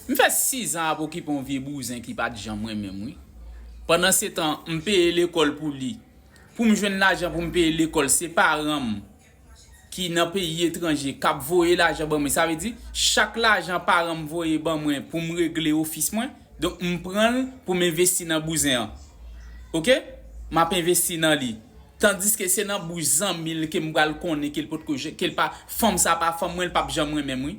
M fè 6 an ap okipe yon vye bouzen ki pat janm renmen m wi. Pandan se tan m peye lekòl pou li. Pou m jwenn lajan pou m peye lekòl se paran m ki nan peyi etranje k ap voye lajan ban mwen. Sa vle di chak lajan paran m voye ban mwen pou m regle ofis mwen, donk m pran l pou m envesti nan bouzen an. Ok, m ap envesti nan li. Tandiske se nan bouch zanmi l ke m pral konnen ke l potko, ke l pa, fanm sa pa fanm mwen, l pap janm renmen m wi.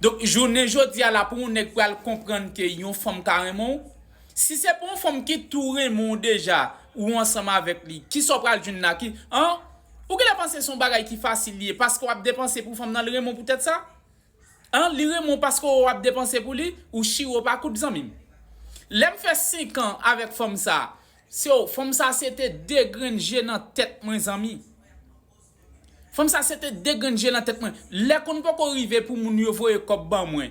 Donk jounen jodi a la pou yon nèg pral konprann ke yon fanm ka renmen w, si se pa yon fanm ki tou renmen w deja, ou ansanm avèk li, kisa w pral jwenn la ki an? Ou genlè panse se yon bagay ki fasil li ye paske w ap depanse pou fanm nan li renmen w poutèt sa? An? Li renmen w paske w ap depanse pou li? Ou chire w pa kout zanmi m. Lè m fè senkan avèk fanm sa, se w, fanm sa se te de grenn je nan tèt mwen zanmi. Fanm sa sete de grenn je nan tèt mwen lè konn poko rive pou moun yo voye kòb ban mwen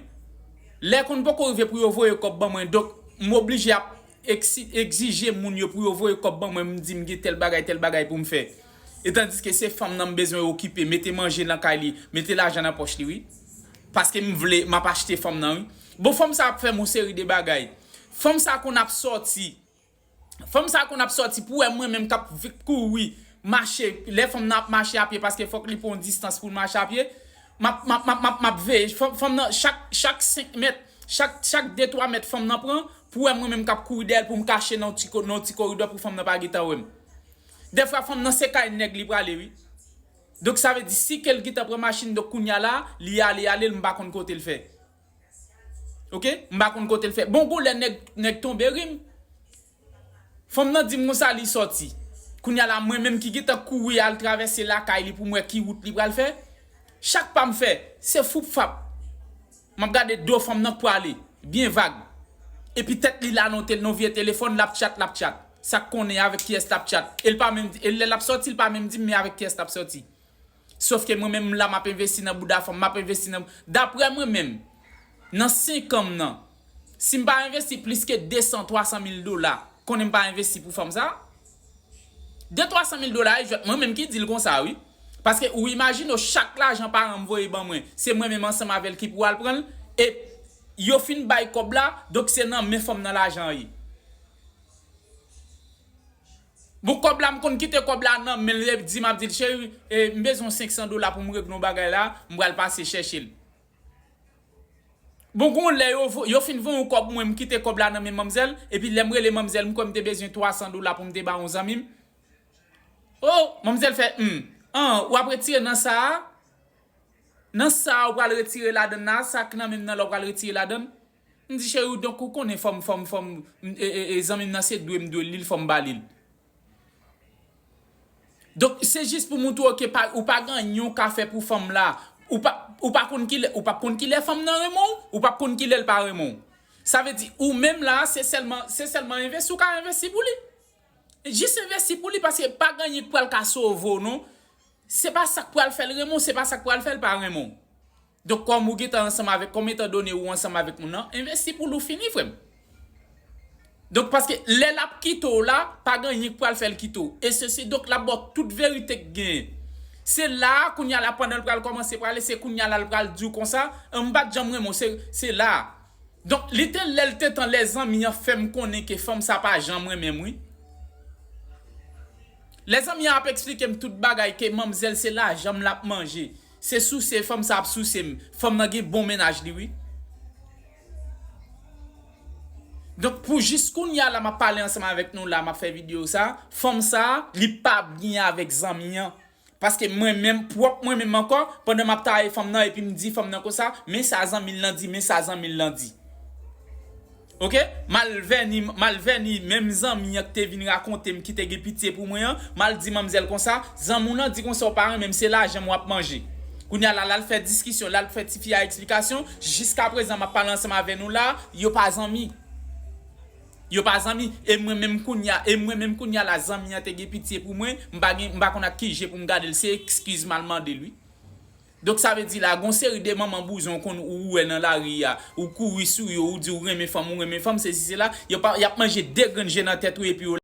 lè konn poko rive pou yo voye kòb ban mwen donk m oblije ap egzije moun yo pou yo voye kòb ban mwen m di m gen tèl bagay tèl bagay pou m fè etandiske se fanm nan m bezwen okipe mete manje nan kay li mete lajan nan pòch li wi paske m vle m ap achte fanm nan wi bon fanm sa ap fè m yon seri de bagay fanm sa konn ap sòti Fanm sa konn ap sòti pou wè mwen menm kap kouri mache lè fanm nan ap mache apye paske fòk li pran yon distans poul mache apye map map map veye fanm nan chak chak 5 mèt chak chak 2 3 mèt fanm nan pran pou wè mwen menm kap kouri dèyèl poum kache nan yon ti koridò pou fanm nan pa gentan wèm dèfwa fanm nan se kay nèg li prale wi donk sa vle di si kel gentan pran machin donk kounya la li ale alel m pa konn kotel fè. Ok m pa konn kotel fè bon gou lè nèg tonbe rim fanm nan dim konsa li sòti kounya la mwen menm ki gentan kouri al travèse lakay li poum wè ki wout li pral fè chak pam fè se foup fap map gade do fanm nan k prale byen vag epi tèt li la non vye telefòn lap tchat lap tchat sak konnen avèk kiyès lap tchat el pa menm di lè lap sòti l pa menm dim men avèk kiyès lap sòti. Sof ke mwen menm m la m ap envesti nan bouda fanm, m ap envesti nan Daprè mwen menm, nan 5 an m nan, si m pa envesti plis ke 200, 300 mil dola, konnen m pa envesti pou fanm sa a. De 300 mil dola e jwèt, mwen menm ki di l konsa wi. Paske ou imajine w chak lajan paran m voye ban mwen, se mwen menm ansanm avè l ki pou al pran l, e yo fin bay kòb la, donk se nan men fanm nan lajan an ye. Bon kòb la m konn kite kòb la nan menl lel dim ap dil cheri m bezwen 500 dola poum regle yon bagay la m pral pase chèchel bon gon lè yo fin voyem kòb mwen m kite kòb la nan men manmzèl epi lèm rele manmzèl m kwè m te bezwen 300 dola poum te ba yon zanmim oh manmzèl fè humm an wap retire nan sa nan sa ou pral retire ladann la sak nan menm nan la ou pral retire ladann. M di cheri w donk ou konnen fò m fò m fò m e zanmi m nan se dwe m dwe li l fò m ba li l. Donk se jis pou montre w ke ou pa gen anyen w ka fè pou fanm la ou pa ou pa konn kilè ou pap konn kilè fanm nan renmen w ou pap konn kilè l pa renmen w. Sa vle di ou menm la se sèlman se sèlman envesti w ka envesti pou li. Jis envesti pou li paske pa gen anyen k pral ka sove w non. Se pa sa k pral fè l renmen w se pa sa k pral fè l pa renmen w. Donk kòm ou gentan ansanm avèk kòm etan done ou ansanm avèk moun nan envesti poul ou fini frèm. Donk paske lè lap kite w la pa gen anyen k pral fèl kite w e sesi donk lap ba w tout verite k genyen. Se la a kounya la pandan l pral kòmanse prale se kounya la l pral di w konsa m pat janm renmen w se se la a. Donk li te lè l te tan lè zanmi an fèm konnen ke fanm sa pa janm renmen m wi. Lè zanmi an ap eksplike m tout bagay ke manmzèl se lajan m lap manje Se souse fanm sa ap souse m. Fanm nan gen bon mennaj li wi. Donk pou jis kounya la map pale ansanm avèk nou la map fè video sa, fanm sa li pa byen avèk zanmi an. Paske mwen menm pwòp mwen menm ankò pandan map taye fanm nan epi m di fanm nan konsa men sa zanmi l lan di men sa zanmi l lan di. Ok mal vèni mal vèni menm zanmi an ki te vin rakontem ki te gen pitye pou mwen an mal di manmzèl konsa zanmi w lan di konsa w pa renmen m se lajan m wap manje kounya la lal fè diskisyon lal fè tifi a eksplikasyon jiska prezan map pale ansanm avè nou la yo pa zanmi yo pa zanmi e mwen menm kounya e mwen menm kounya la zanmi an te gen pitye pou mwen m pa gen m pa konn ak ki je pou m gade l se ekskiz mal mande l wi. Donk sa vle di la gon seri de manman bouzon ou konn ou wè nan lari a ou kouri sou yo ou di ou renmen fanm ou renmen fanm sesi sela yo pa yap manje de grenn je nan tèt ou epi yo